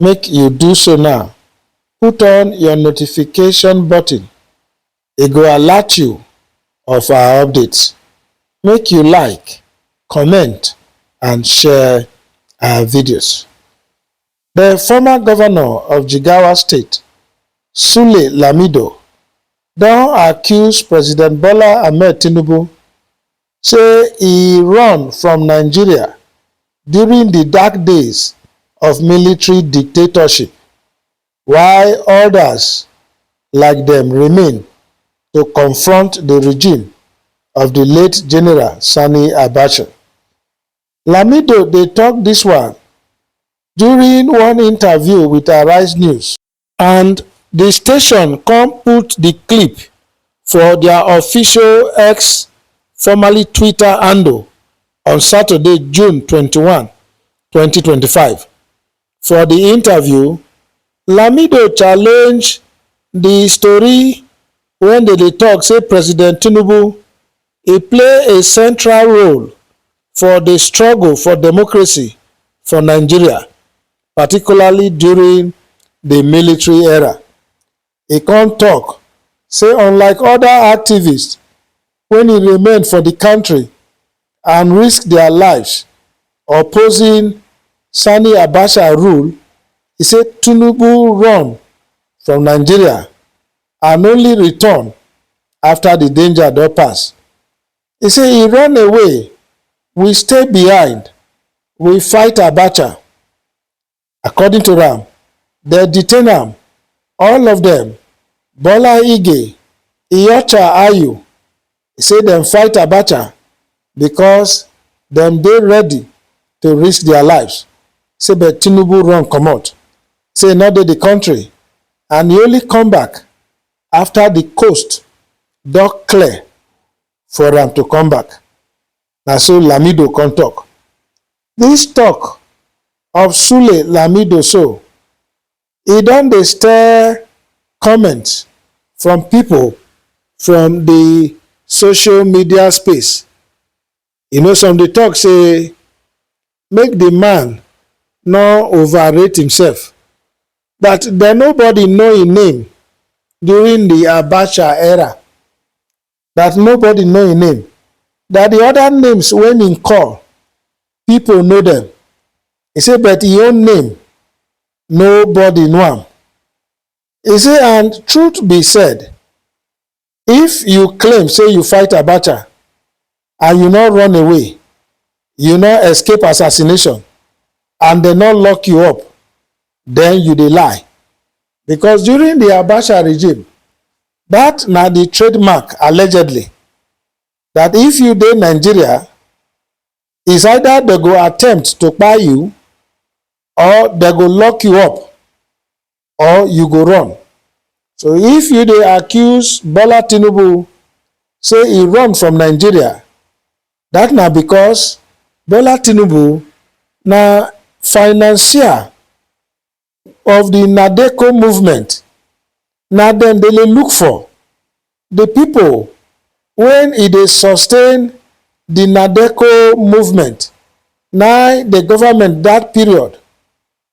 Make you do so now, put on your notification button, e go alert you of our updates. Make you like, comment and share our videos. The former governor of Jigawa State, Sule Lamido, don accuse President Bola Ahmed Tinubu say e run from Nigeria during di dark days of military dictatorship, while odas like dem remain to confront di regime of di late General Sani Abacha. Lamido dey tok dis one during one interview wit Arise News. and di station come put di clip for dia official x formerly twitter handle on saturday june twenty one twenty twenty five for di interview lamido challenge di story wen dem dey tok say president tinubu e play a central role for di struggle for democracy for nigeria particularly during di military era. E come tok say unlike oda activists wey remain for di kontri and risk dia lives opposing Sani Abacha rule, e say Tinubu run from Nigeria and only return afta di danger don pass. He say he run away, we stay behind, we fight Abacha. According to am, dem detain am, all of dem, Bola Ige, Iyorchia Ayu, he say dem fight Abacha because dem dey ready to risk their lives, say but Tinubu run comot, say he no dey the country and he only come back after the coast don clear for am to come back. Na so Lamido come talk. This talk of Sule Lamido so, e don dey stir comments from people from the social media space You know some dey talk say make the man no overrate himself but the nobody know him name during the Abacha era that nobody know him name that the other names wey him call people know them he say but him own name nobody know am he say and truth be said If you claim say you fight Abacha and you no run away, you no escape assassination and dem no lock you up, then you dey lie. Because during the Abacha regime, that na the trademark allegedly that if you dey Nigeria, is either dem go attempt to kpai you or dem go lock you up or you go run. So if you dey accuse Bola Tinubu say e run from Nigeria, that na because Bola Tinubu na financier of the Nadeco movement. Na dem dey look for the people when e dey sustain the Nadeco movement na the government that period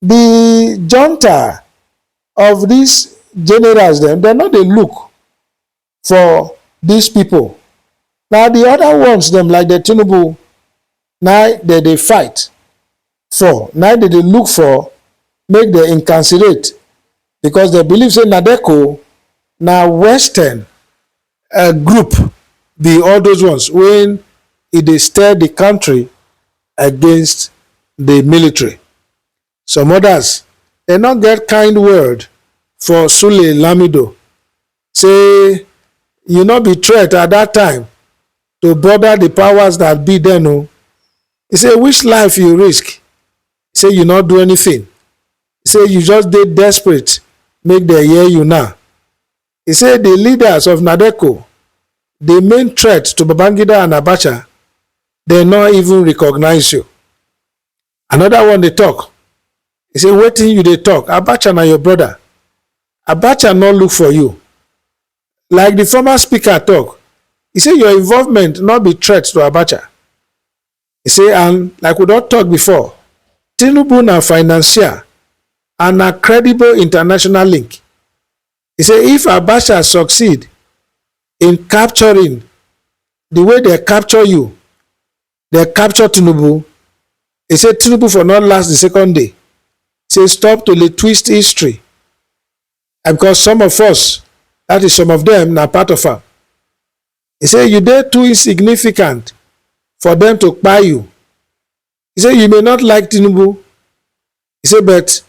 di junta of dis generals dem, dem no dey look for dis pipo, na di oda ones dem like dem Tinubu na im dem dey fight for, na im dem dey look for make dem incarcerate becos dem believe say Nadeco na western um group be all those ones wey e dey stir the country against the military. Some others dem no get kind word for Sule Lamido say you no be threat at that time to bother the powers that be then o. He say which life you risk? He say you no do anything. He say you just dey desperate make dem hear you now. He say di leaders of Nadeco dey main threat to Babangida and Abacha, dem no even recognise you. Another one dey talk, he say wetin you dey talk, Abacha na your brother, Abacha no look for you. Like di former speaker talk, he say your involvement no be threat to Abacha, He say and like we don talk before, Tinubu na financier and na credible international link. He say if Abacha succeed in capturing the way dem capture you, dem capture Tinubu, he say Tinubu for not last the second day. He say stop to dey twist history and because some of us, that is some of them na part of am. He say you dey too insignificant for dem to kpai you. He say you may not like Tinubu, he say but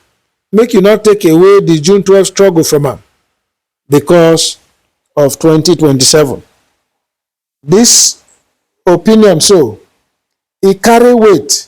make you not take away di June twelve struggle from am because of twenty twenty seven. Dis opinion so e carry weight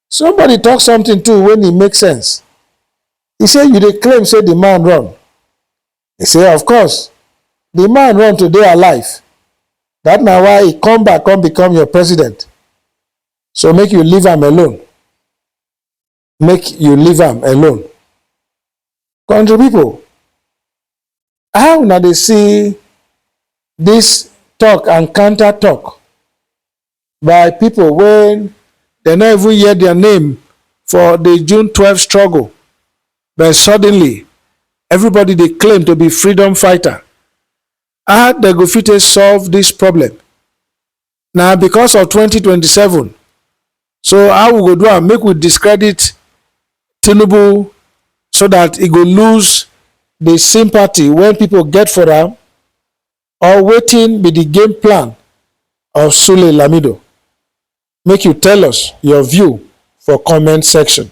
Somebody talk something too when e make sense. E say you dey claim say the man run. E say of course the man run to dey alive that na why e come back come become your president so make you leave am alone make you leave am alone. Country people How una dey see dis talk and counter talk by pipo wey dem no even hear dia name for di June twelve struggle but suddenly everybody dey claim to be freedom fighter? How dem go fit take solve dis problem? na because of 2027 so how we go do am make we discredit tinubu so that e go lose the sympathy wey people get for am or wetin be the game plan of sule lamido make you tell us your view for comment section